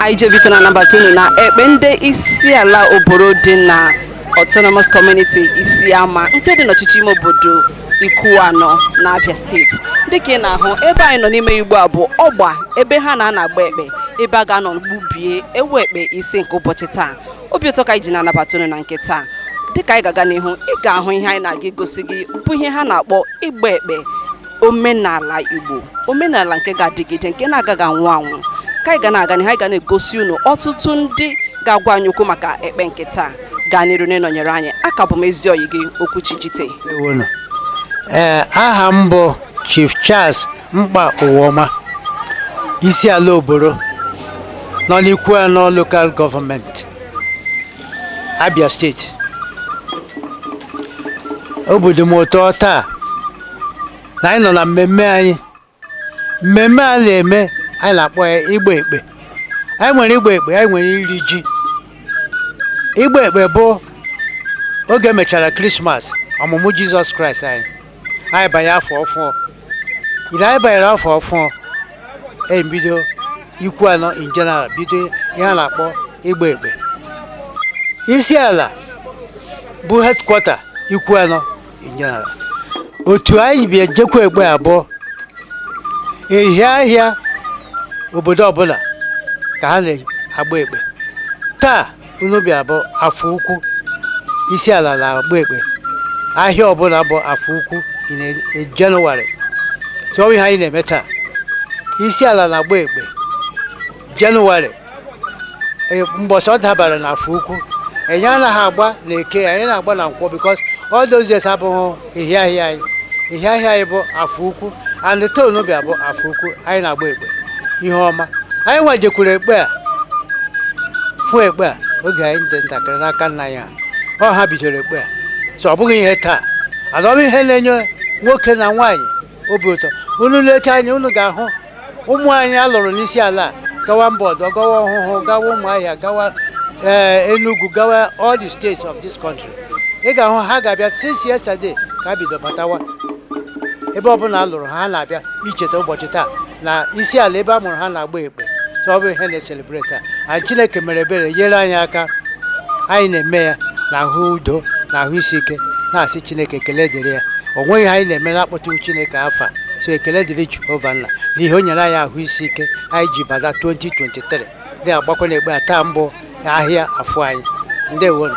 anyị ji obi ụtọ na-anabata unu na ekpe ndị isi ala oboro dị na autonomous community isiama nke dị n'ọchịchị ime obodo ikwuano na abia steeti dịka ị na-ahụ ebe anyị nọ n'ime ugbu a bụ ọgba ebe ha na-anọ agba ekpe ebe a ga-anọ gbubie ewu ekpe isi nke ụbọchị taa obi ụtọ ka anyị ji na-anabata unu na nke taa dịka anyị ga-aga n'ihu ị ga-ahụ ihe anyị na-aga egosi gị bụ ihe ha na-akpọ ịgba ekpe omenala Igbo omenala nke ga-adịgide nke na-agaghị anwụ anwụ ka anyị ga na-aga n'ihu anyị ga na-egosi unu ọtụtụ ndị ga-agwa anyị okwu maka ekpe nke taa gaa n'iru na ịnọnyere anyị aka bụ m ezi oyi gị Okwuchi Jite Ndewonu. Ee, aha m bụ Chief Charles mkpa ụwa ọma isi ala oboro nọ n'ikwu anọ lokal gọọmenti abia steeti obi dị m ụtọ taa na anyị nọ na mmemme anyị mmemme a na-eme anyị na-akpọ ya ịgba ekpe anyị nwere ịgba ekpe anyị nwere iri ji ịgba ekpe bụ oge e mechara krismas ọmụmụ jizọs kraịst anyị anyị banye afọ ọfụọ ile anyị banyere afọ ọfụọ e bido ikwu anọ in general bido ihe a na-akpọ ịgba ekpe isi ala bụ headquarter ikwu anọ in general otu anyị bịa jekwu ekpe a bụ ehi ahịa obodo ọbụla ka ha na-agba ekpe taa nụ bịa bụ afọ ukwu isi ala na-agba ekpe ahịa ọbụla bụ afọ ukwu in a- in January so ihe anyị na-eme taa isi ala na-agba ekpe January e- mbọsị ọ dabara na afọ ukwu anyị anaghị agba na eke anyị anaghị agba na nkwọ because all those days abụghị ehi ahịa anyị ehi ahịa anyị bụ afọ ukwu and taa nụ bịa bụ afọ ukwu anyị na-agba ekpe ihe ọma anyị nwa jekwuru ekpe a fụ ekpe a oge anyị dị ntakịrị n'aka nna anyị ọ ha bidoro ekpe a so ọ bụghị ihe taa adọm ihe na-enye nwoke na nwaanyị obi ụtọ unu lecha anya unu ga-ahụ ụmụ anyị a lụrụ n'isi ala gawa mba ọdọ gawa ọhụhụ gawa ụmụahịa gawa eh, Enugu gawa all the states of this country ị ga-ahụ ha ga-abịa since yesterday ka ha bido batawa ebe ọbụla a lụrụ ha na-abịa icheta ụbọchị taa na isi ala ebe a mụrụ ha na-agba ekpe so ọ bụ ihe na-esele breta anyị chineke mere ebere nyere anyị aka anyị na-eme ya na ahụ udo na ahụ isi ike na-asị chineke ekele dịrị ya o nweghị ihe anyị na-eme na-akpọtụrụ chineke afa so ekele dịrị jehova nna n'ihi o nyere anyị ahụ isi ike anyị ji bata 2023 bịa gbakọ na ekpe a taa bụ ahịa afọ anyị ndewonu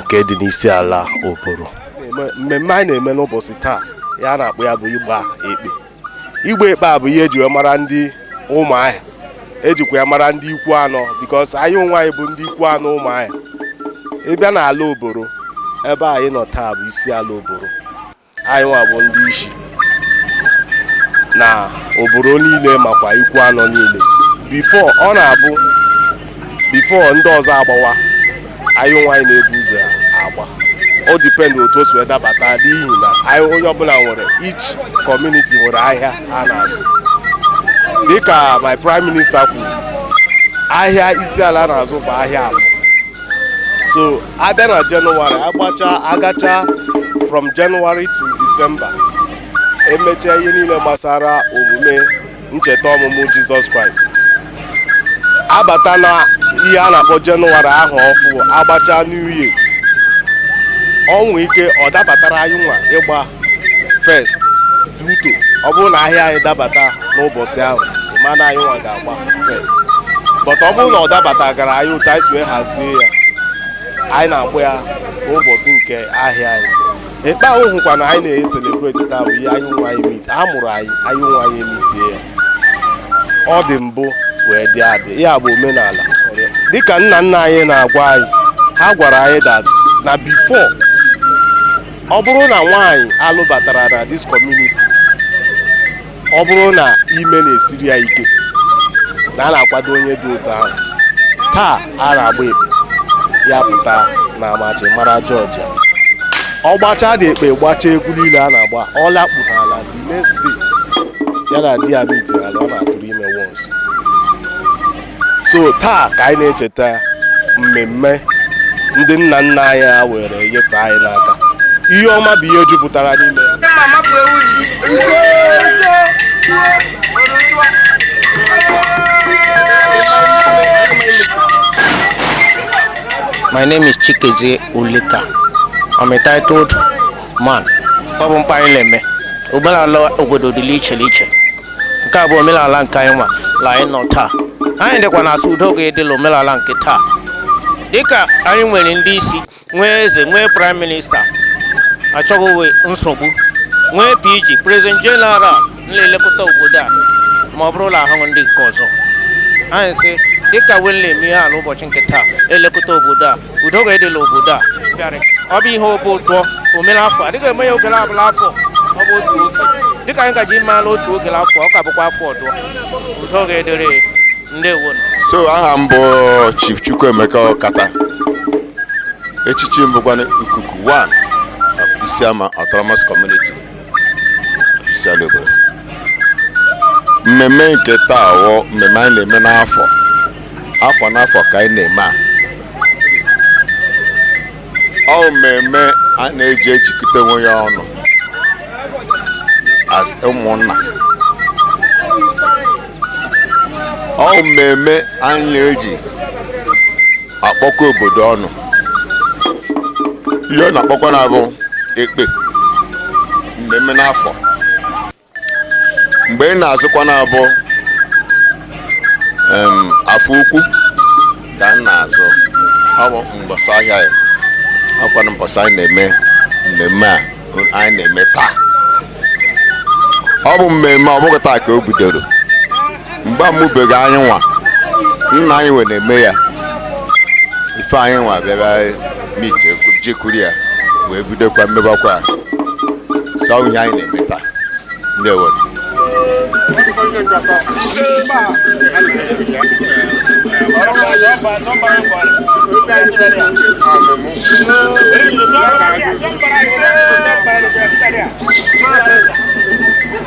nke dị n'isi ala oboro mmemme anyị na-eme n'ụbọchị taa ihe a na-akpọ ya bụ ịgba ekpe ịgba ekpe a bụ ihe eji wee mara ndị ụmụahịa ejikwa ya mara ndị ikwu anọ because anyị nwa anyị bụ ndị ikwu anọ ụmụahịa ị bịa n'ala oboro ebe anyị nọ taa bụ isi ala oboro anyị nwa bụ ndị isi na oboro niile makwa ikwu anọ niile before ọ na-abụ before ndị ọzọ agbawa anyị nwa anyị na-ebu ụzọ agba o dipendị otu o si wee dabata n'ihi na anyị onye ọbụla nwere each community nwere ahịa a na-azụ dịka my prime minister kwuru ahịa isi ala na-azụ bụ ahịa afọ so a bịa na jenụwarị agbacha agacha from jenụwarị to disemba emechaa ihe niile gbasara omume ncheta ọmụmụ jizọs kraịst abata na ihe a na-akpọ jenụwarị ahụ ọfụ agbacha new year o nwere ike ọ dabatara anyị nwa ịgba first due to ọ bụrụ na ahịa anyị dabata n'ụbọchị ahụ mana anyị nwa ga-agba first but ọ bụrụ na ọ dabata gara anyị otu anyị si wee hazie ya anyị na-agba ya n'ụbọchị nke ahịa anyị ekpe ahụ hụkwa na anyị na-eselebreti taa bụ ihe anyị nwa anyị meet a mụrụ anyị anyị nwa anyị emitie ya ọ dị mbụ wee dị adị ya bụ omenala dịka nna nna anyị na-agwa anyị ha gwara anyị that na before ọ bụrụ na nwaanyị a lụbatara na this community ọ bụrụ na ime na-esiri ya ike na a na-akwado onye dị otu ahụ taa a na-agba ekpe ya pụta na amachi mara jọji ọ gbachaa the ekpe gbachaa egwu niile a na-agba ọ lakpu n'ala the next day ya na di ya miti ala ọ na-atụrụ ime once so taa ka anyị na-echeta mmemme ndị nna nna anyị ha were nyefee anyị n'aka ihe ọma bụ ihe jupụtara n'ime ya My name is Chikezie Ulika. I'm a titled man. Ọ bụ mkpa anyị na-eme. Omenala obodo dị la iche la iche. nke a bụ omenala nke anyị nwa la anyị nọ taa anyị dịkwa na-asị udo ga-adị la omenala nke taa dịka anyị nwere ndị isi nwee eze nwee prime minister achọghịwe nsogbu nwee pg president general na-elekọta obodo a ma ọ bụrụ na ahụghị ndị nke ọzọ anyị sị dịka wele eme ihe a n'ụbọchị nke taa elekọta obodo a udo ga-adịrị obodo a bịara ọ bụ ihe obi ụtọ omere afọ adịghị eme ya ogere ọbụla afọ ọ bụ otu oge dịka anyị gaji maala otu ogere afọ ọ ka bụkwa afọ ọdụọ udo ga-adịrị ndewo so aha m bụ Chief Chukwuemeka Okata echichi m bụkwa ikuku 1 of Isiama Autonomous Community Isiala Oboro mmemme nke taa wụ mmemme anyị na-eme n'afọ afọ n'afọ ka anyị na-eme ya ọ wụ mmemme a na-eji ejikọta onwe ya ọnụ as ụmụnna ọ wụ mmemme anyị na-eji akpọkọ obodo ọnụ ihe a na-akpọkwa na-abụ ekpe mmemme n'afọ mgbe ọ na-azụkwa na-abụ afọ ukwu ka ọ na-azụ ọ bụ mbọsị ahịa ya ọkwana mbọsị anyị na-eme mmemme a anyị na-eme taa ọ bụ mmemme ọ bụghị taa ka o bidoro mgbe a mụbeghị anyị nwa nna anyị wee na-eme ya ife anyị nwa bịara meet jekuru ya wee bidokwa mebakwa so ọ wụ ihe anyị na-eme taa ndewo Thank you.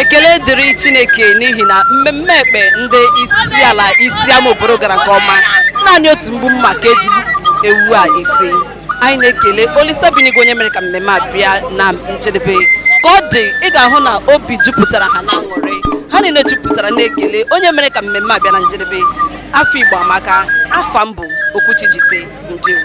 ekele dịrị chineke n'ihi na mmemme ekpe ndị isi ala isi ama oboro gara nke ọma naanị otu mgbu mma ka e ji gbupụ ewu a isi anyị na-ekele olisa bi n'igwe onye mere ka mmemme a bịa na njedebe ka ọ dị ị ga-ahụ na obi jupụtara ha n'aṅụrị ha niile jupụtara n'ekele onye mere ka mmemme a bịa na njedebe afọ igbo amaka afa m bụ okwuchi jite ndewo